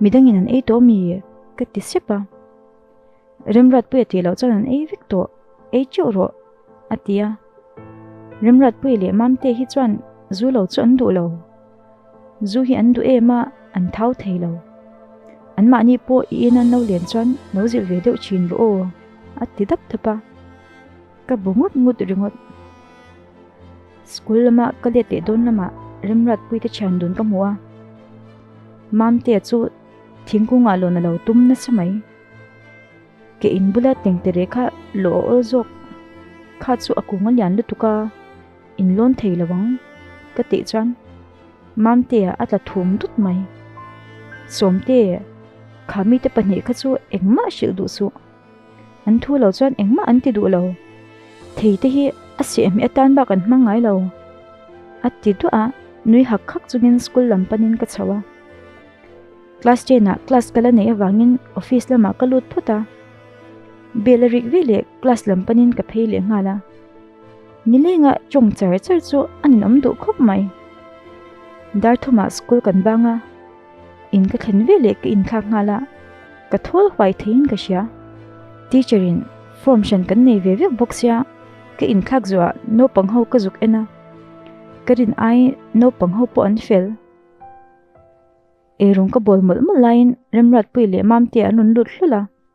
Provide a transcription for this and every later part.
Midangin an ei tawh mi ka ti sep a. Remratpuia tih loh chuan an ei vek tawh, ei teuh rawh a ti a. Remratpui leh Mamte hi chuan zu lo chu an duh lo. Zu hi an duh em a, an thau thei lo. Anmahni pawh i in an lo len chuan lo zir ve deuh thin rawh aw a ti dap dap a. Ka bu ngut ngut ringawt. School lama ka let leh dawn lama Remrat pui te thian dun ka hmu a. Mam te chu thingkung a lawna lo tum nasa mai. Ke in bula teng te re kha lo a awl zawk. Kha chu a kung a lian lutuk a. In lawn thei lo ang. Ka tih chuan Mam te a tla thum dut mai. Sawm te kha mi te pahnih kha chu engmah hrilh duh suh. An thu lo chuan engmah an ti duh lo. Thei te hi a siah hmeh atan bak an hmang ngai lo. A ti duah a, nui hak khak chungin school lam panin ka chho a. Class ten ah class ka la neih avangin office lamah ka lut phut a. Bel a rik ve leh class lam panin ka phei leh nghal a. Nilenga tawng char char chu a ninawm duh khawp mai. Darthuma school kan vang a. in ka thlen ve leh ka in thlak nghal a ka thawl huai thei in ka hria teacher in form hran kan nei ve vek bawk sia ka in thlak zuah naupang ho ka zuk ena ka rin ai naupang ho pawh an fel ei rung ka bawl mawlh mawlh laiin remrat pui leh mam te an rawn lut hlul a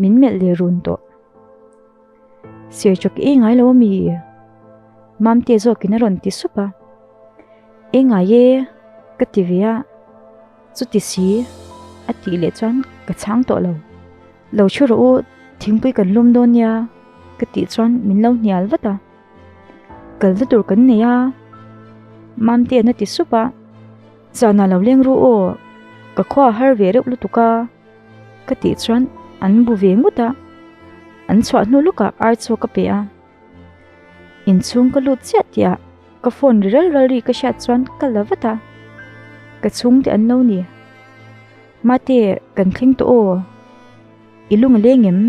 Min melh leh run tawh. Sir chawk e ngai lo ami i. Mam tia zawk in a rawn ti sup a. E ngai e ka ti ve a. Chu ti si a tih leh chuan ka chhang tawh lo. Lo thu rawh u thingpui kan lum dawn nia ka tih chuan min lo hnial vat a. Kal na tur kan nei a. Mam tia na ti sup a. Zana lo leng ru aw. Ka khua a har ve reuh lutuk a. Ka tih chuan an bu ve ngut a, an chhuah hnu lawkah ar chu ka pe a. Inchhung ka lut chiah tih ah ka phone ri ral ral ri ka hriat chuan ka la vat a. Ka chhung te an no ni. Mate kan thleng tawh aw, i lung a leng em?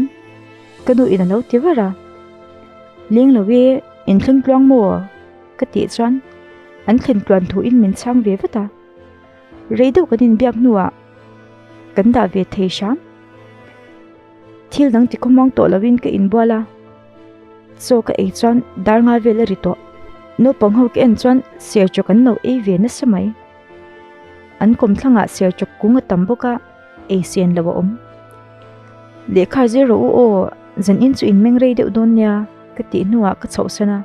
Ka nu in a lo ti var a. Leng lo e, in thleng tluang maw? Ka tih chuan an thlen tluan thu in min chhang ve vat a. Rei deuh kan inbiak hnuah kan dah ve thei hram. Thil dang ti khawm ang tawh lovin ka inbual a. Chaw ka ei chuan dar nga vel a ri tawh. Naupang ho ka en chuan serchawk an lo ei ve nasa mai. An kawm thlangah serchawk kung a tam bawk a, ei sen lo a awm. Lehkha zir rawh u aw, zan in chu inmeng rei deuh dawn nia ka tih hnuah ka chhoh san a.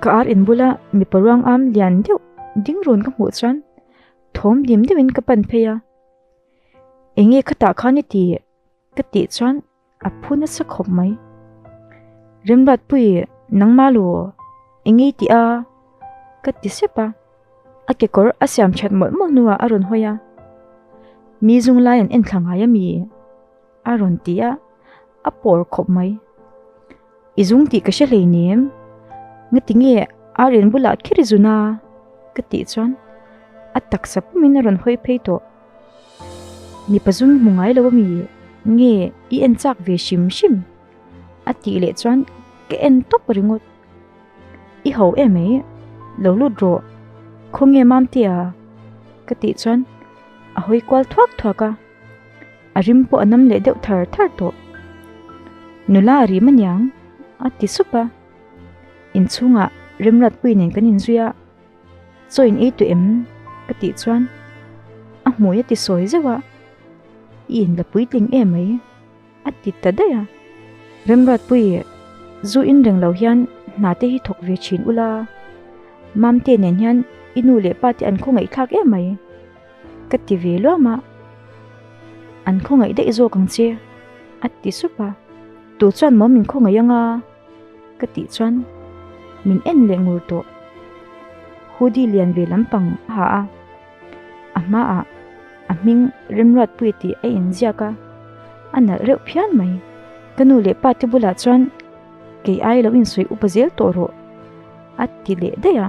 Ka ar inbula mipa ruang am lian deuh ding run ka hmuh chuan, thawm dim dim in ka pan phei a eng nge khatah khan i ti ka tih chuan a phu nasa khawp mai remrat pui nangma lu eng nge ti a ka ti sep a a kekawr a siam that mawlh mawlh hnuah a rawn hawi a mi zung laiin en thla ngai a mi. a rawn ti a, a pawr khawp mai. I zung tih ka hre hleinem, ngatinge Aryan bulah kher i zun a? ka tih chuan a taksa pumin a rawn hawi phei tawh. Mi pazu'n hmu ngai lo a mi, nge i en chak ve hrim hrim? a tih leh chuan ka en tawp a ringawt. I ho e mai, lo lut rawh, khawnge mam tia? ka tih chuan a hawi kual thuak thuak a. A rim pawh a nam leh deuh thar thar tawh. Nula a rim a niang, a ti sup a. Inchhungah Remratpuii nen kan inzui a, chawiin ei tawh em? ka tih chuan a hmui a ti sawi zeuh a, i in la puitling e mai. A ti ta daih a. Remruatpuii e, zu in reng lo hian hna te hi thawk ve thin ula, Mamte nen hian i nu leh pa te an khawngaihthlak em mai ka ti ve luam a, an khawngaih daih zawk ang che, a ti sup a. Tu chuan maw min khawngaih anga ka tih chuan min en leh ngur tawh. Hoodie lian ve lampang a ha a. A hmaah a hming Remruatpuii tih a inziak a, a nalh reuh phian mai. Ka nu leh pate bulah chuan kei ai lo insawi upa zel tawh rawh a ti leh daih a.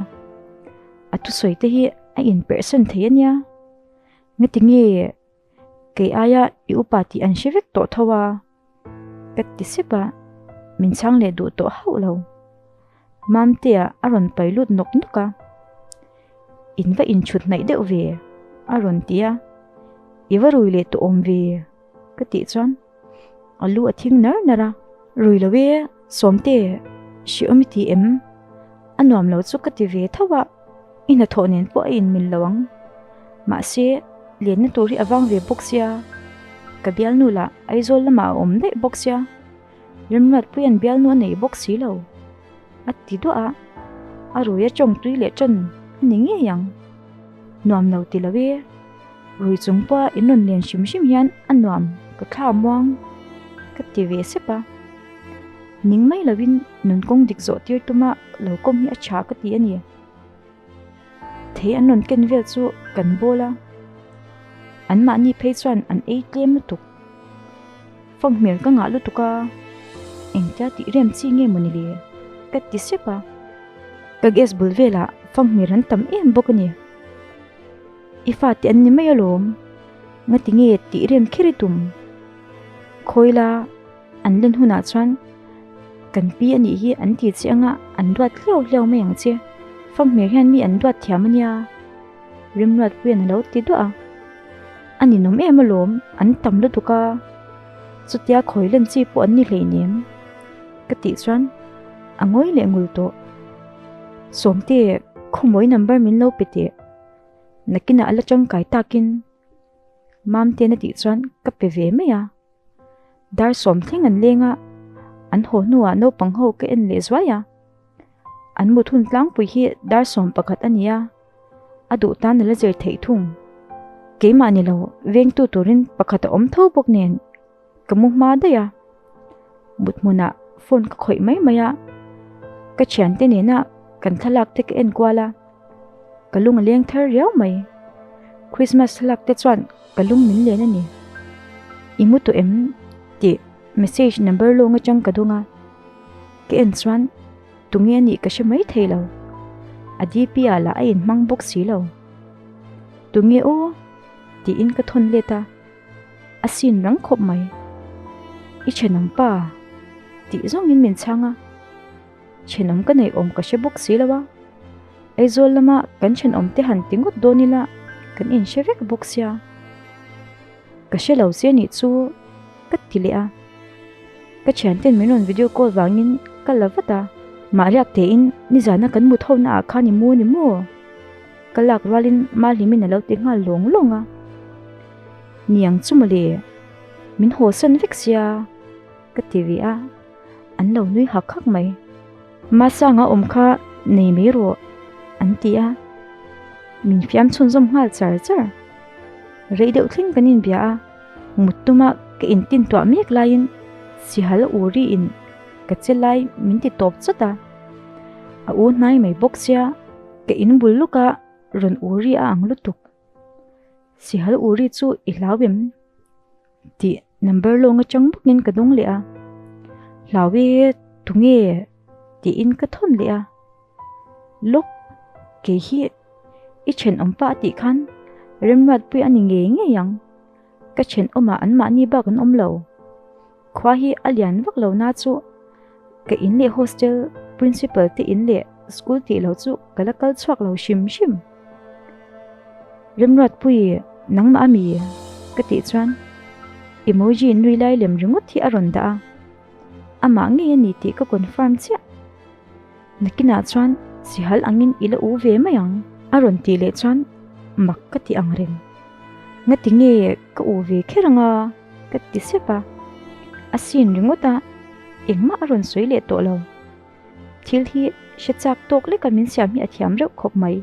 A thusawi te hi a inperhsan thei a nia. Ngatinge kei aia i upa tih an hre vek tawh tho a. Ka ti sep a, min chang leh duh tawh hauh lo. Mamtea a rawn pai lut nawk nawk a, in va inchhut hnaih deuh ve a rawn ti a, i va rui leh tawh awm ve ka tih chuan a lu a thing nar nar a, rui lo e. Sawmte, Hriawm i ti em? A nuam lo chu ka ti ve tho a, i hna thawh nen pawh a inmil lo ang. Mahse, lianna tur hi a vang ve bawk sia, ka bialnu lah Aizawl lamah a awm daih bawk sia, Rimruatpuia'n bialnu a neih bawk si lo, a ti duah a, a ruia ṭawng tui leh ṭan a ni ngei ang. Nuam lo ti lo e. Rui chung pawh a inawn lian hrim hrim hian a nuam ka thla muang ka ti ve sep a. Ning mai lovin nun kawng dik zawh tir tuma lo kawm hi a tha ka ti a ni. Thei an rawn ken vel chu kan bawl a. Anmahni phei chuan an ei tlem lutuk. Fang hmel ka ngah lutuk a. Engtia tih rem chi nge mawni le ka ti sep a. Ka gas bul velah fang hmel an tam em bawk a ni. I fate an ni mai alawm, ngati nge tih rem kher i tum. Khawila an len hunah chuan kan pi anih hi an ti che anga an duat hliau hliau mai ang che. Famhmir hian mi an duat thiam ania, Rimruat puiin a lo ti duah a, a ninawm em alawm, an tam lutuk a, chutia khawi len chi pawh an ni hleinem ka tih chuan a ngawi leh ngul tawh. Sawmte khawmawih number min lo pe teh. Nakinah a la tangkai takin Mamtiana tih chuan ka pe ve mai a. Dar sawm thleng an leng a. An haw hnuah naupang ho ka en leh zuai a. An mut hun tlangpui hi dar sawm pakhat a ni a. A duh tan a la zir theih thung. Keimah ni lo vengtu turin pakhat a awm tho bawk nen. Ka mu hma daih a, mut hmuna phone ka khawih mai mai a, ka thiante nena kan thlalak te ka en kual a, ka lung a leng thar riau mai. Christmas thlalak te chuan ka lung min len a ni. I mu tawh em tih message number lawng atang ka dawng a, ka en chuan tunge a nih ka hre mai thei lo. A DP a la a in hmang bawk si lo. Tunge aw tiin ka thawn let a. a sin rang khawp mai. I then ang pa, tih zawngin min chhang a, then awm ka neih awm ka hre bawk si lo a, Aizawl lama kan then awm te han ti ngawt dawn ila kan inhre vek bawk sia, ka hre lo si a nih chu ka ti leh a, ka thianten min rawn video call vangin ka la vat a. Mahriak tein nizana kan mut ho naah khan i mu a ni maw? Ka lak rualin Mahlimin a lo ti nghal lawng lawng a, Niang chu mawle, min haw sawn vek sia ka ti ve a, an lo nui hak hak mai. Masanga awm kha nei mai rawh an ti a, min fiam chhunzawm nghal char char. Rei deuh thleng kan inbia a, mut tuma ka intintuah mek laiin Sihal Uriin ka che lai min ti tawp chawt a, a u hnai mai bawk sia. Ka in bul lawka rawn uri a ang lutuk. Sihal uri chu i hlau em? Tih number lawng atang bawkin ka dawng leh a. Hlau e tunge tiin ka thawn leh a. Lawk kei hi i then awm pah tih khan remruat pui a ni ngei ngei ang. Ka chhen awmah an mahni bak an awm lo. Khua hi a lian vak lo na chu ka in leh hostel principal te in leh school tih lo chu ka la kal chhuak lo hrim hrim. Rimruat pui nangmah a mi ka tih chuan emoji nui lai lem ringawt hi a rawn dah a. Amah ngei a ni tih ka confirm chiah. Nakinah chuan Sihal angin i la u ve mai ang a rawn tih leh chuan mak ka ti ang reng. Nga ti nge ka u ve kher anga ka ti sep a. A sin ringawt a, engmah a rawn sawi leh tawh lo. Thil hi hre chak tawk leka min siam hi a thiam reuh khawp mai.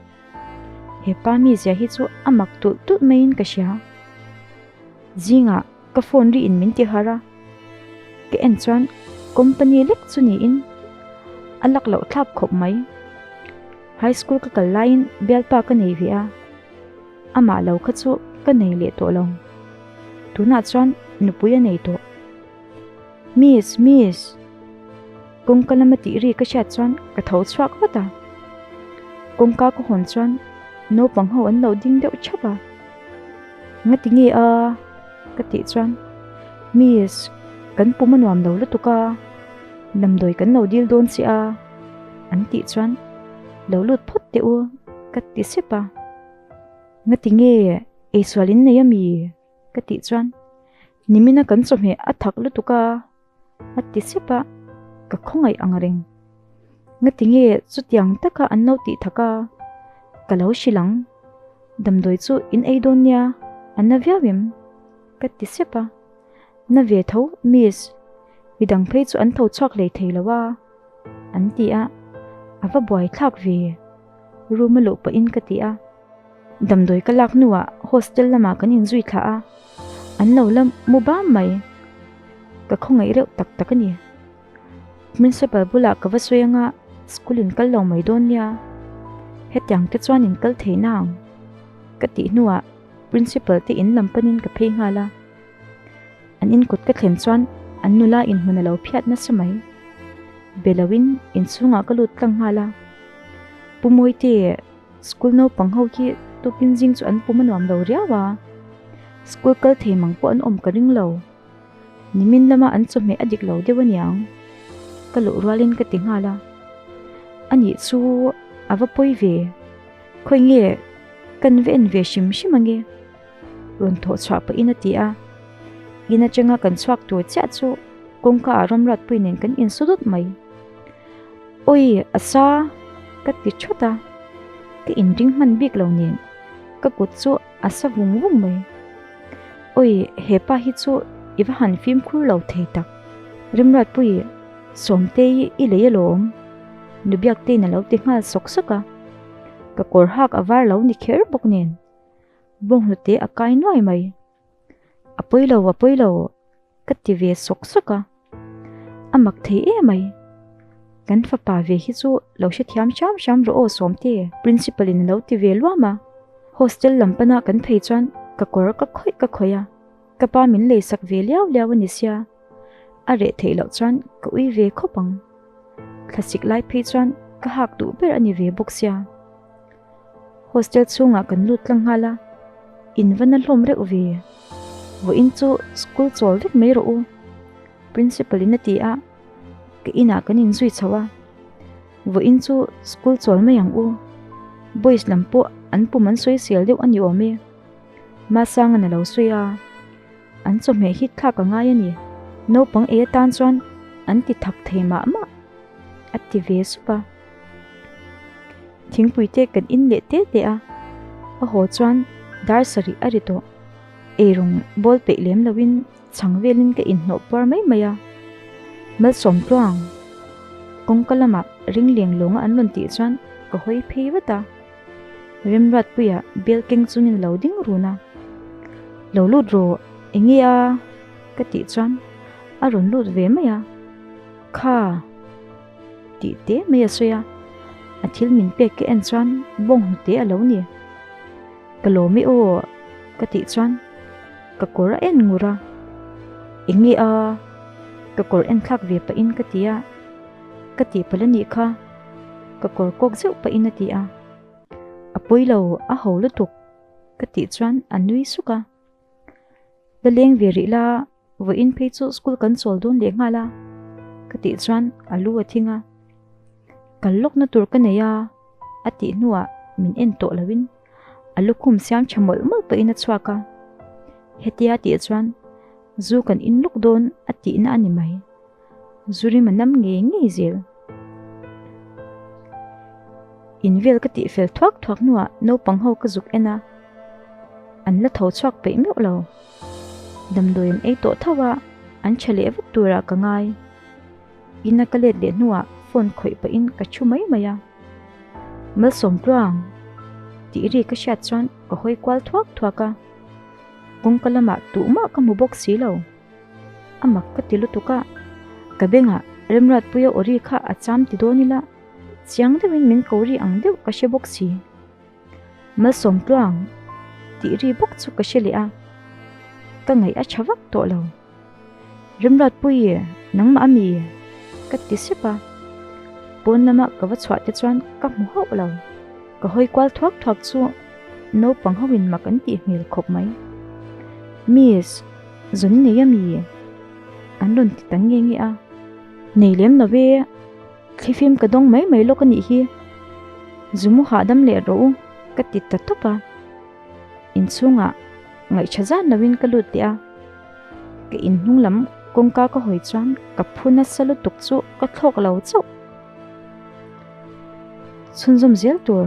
Hepa mizia hi chu a mak tulh tulh maiin ka hria. Zingah. Ka phone ri in min ti har a, ka en chuan company lek chu niin a lak loh thlap khawp mai. High school ka kal laiin Bialpa ka nei ve a, amah lo kha chu ka nei leh tawh lo. Tunah chuan nupui a nei tawh. Miss, miss! Kawngka lama tih ri ka hriat chuan ka tho chhuak vat a. Kawngka ka hawn chuan naupang ho an lo ding deuh thap a. Ngati nge a? Ka tih chuan Miss, kan pum a nuam lo lutuk a, damdawi kan lo dil dawn che a, an tih chuan lo lut phawt teh u ka ti sep a. Ngati nge eisualin nei a mi? Ka tih chuan Nimin a kan chawhmeh a thak lutuk a, a ti sep a, ka khawngaih ang reng. Ngatinge chutiang taka an lo tih thak a, ka lo hrilh ang, damdawi chu in ei dawn nia, a na viau em? ka ti sep a. Na ve tho miss, i dang phei chu an tho chhuak hlei thei lo a, an ti a, a va buaithlak ve, room a luh pahin ka ti a. Damdawi ka lak hnuah hostel lamah kan inzui thlah a, an lo la mu ba mai. Ka khawngaih reuh tak tak a ni. Principal bulah ka va sawi anga schoolin kal lo mai dawn nia, hetiang te chuan in kal thei na ang, ka tih hnuah Principal te in lam panin ka phei nghal a. An inkut ka thlen chuan an nula inhmun a lo phiat nasa mai. Be lo in inchhungah ka lut tlang nghal a. Pu Mawite. School naupang ho hi tupin zing chu an pum a nuam lo riau a, school kal thei mang pawh an awm ka ring lo. Nimin lama an chawhmeh a dik lo deuh a niang, ka luh rualin ka ti nghal a. Anih chu a va pawi ve, khawi nge kan va en ve hrim hrim ange? Rawn thawh chhah pahin a ti a, In atanga kan chhuak tur chiah chu kawngka ah Ramratpuii nen kan in su dut mai. Awi a sa ka ti thut a, ka in ring hman bik lo nen ka kut chu a sa vung vung mai. Awi hepa hi chu i va han fimkhur lo thei tak. Ramratpuii, Sawmte hi i lei alawm, Nubiaktein a lo ti nghal sawk sawk a, ka kawr hak a var lo ni kher bawk nen. Bo hnute a kai nuai mai. A pawi lo, a pawi lo ka ti ve sawk sawk a. A mak thei em mai. Kan fapa ve hi chu lo hrethiam hram hram rawh aw Sawmti. Principal in a lo ti ve luam a. Hostel lam pana kan phei chuan ka kawr ka khawih ka khawih a. Ka pa min lei sak ve liau liau a ni sia, a reh theih loh chuan ka ui ve khawp ang. Thlasik lai phei chuan ka hak duh ber a ni ve bawk sia. Hostel chhungah kan lut tlang nghal a, in va na hlawm reuh ve. Vawh in chu school chawl vek mai rawh u, Principal in a ti a, ka inah kan in zui chhoh a. Vawh in chu school chawl mai ang u, boys lam pawh an pum an sawi sial deuh a ni awm e. Masanga na lo sawi a, an chawhmeh hit thlak ka ngai a ni. Naupang ei atan chuan an ti thak thei mah mah a ti ve sup a. Thingpui te kan in leh te te a, a haw chuan dar sarih a ri tawh. Ei rawng bawl peih lem lo in chhang velin ka in hnawh puar mai mai a. Malsawm tluang kawngka lamah ring leng lawnga an rawn tih chuan ka hawi phei vat a. Rimruat puia bel keng chu min lo ding run a, lo lut rawh eng nge a ka tih chuan a rawn lut ve mai a, kha ti te mai a sawi a, a thil min pek ka en chuan bawng hnu te a lo ni, ka lawm e aw ka tih chuan ka kawr a en ngur a, eng nge a ka kawr en thlak ve pahin ka ti a, ka tih pala nih kha. Ka kawr kawk zeuh pahin a ti a, a pawi lo a ho lutuk ka tih chuan a nui suk a. La leng ve rih la, vawiin phei chu school kan chawl dawn leh nghal a, ka tih chuan a lu a thing a. Kal lawk na tur ka nei a, a tih hnuah min en tawh lo in a lukhum siam tha mawlh mawlh pahin a chhuak a. Hetia tih chuan zu kan in luk dawn a tihna a ni mai. Zurim a nam ngei ngei zel. Invel ka tih fel thuak thuak nua naupang ho ka zuk ena. An la tho chuak peih meuh lo. Damdawi an ei tawh thau a, an tha leh vut tura ka ngai. Ina ka let leh nua phone khawih pahin ka thu mai mai a. Malsawm tluang. Tih ri ka hriat chuan ka hawi kual thuak thuak a. Kawngka lamah tuh mah ka hmu bawk si lo. A mak ka ti lutuk a, ka bengah Remratpuia Ori kha a cham ti dawn ila, chiang deuhin min ko ri ang deuh ka hre bawk si. Malsawmtluang tih ri bawk chu ka hre leh a, ka ngaih a tha vak tawh lo. Remratpuie nangmah ami e? ka ti sep a, pawn lama ka va chhuah te chuan ka hmu hauh lo. Ka hawi kual thuak thuak chu naupang ho in mak an tih hmel khawp mai. Miss. Zun nei ami an rawn ti ta nge nge a. Nei lem lo ve, thli fim ka dawng mai mai lawk a nih hi. Zum u hahdam leh rawh u ka ti ta tawp a. Inchhungah ngaihṭha zan lovin ka lut leh a. Ka inhnung lam kawngka ka hawi chuan ka phu nasa lutuk chu ka thlawk lo chauh. Chhunzawm zel tur.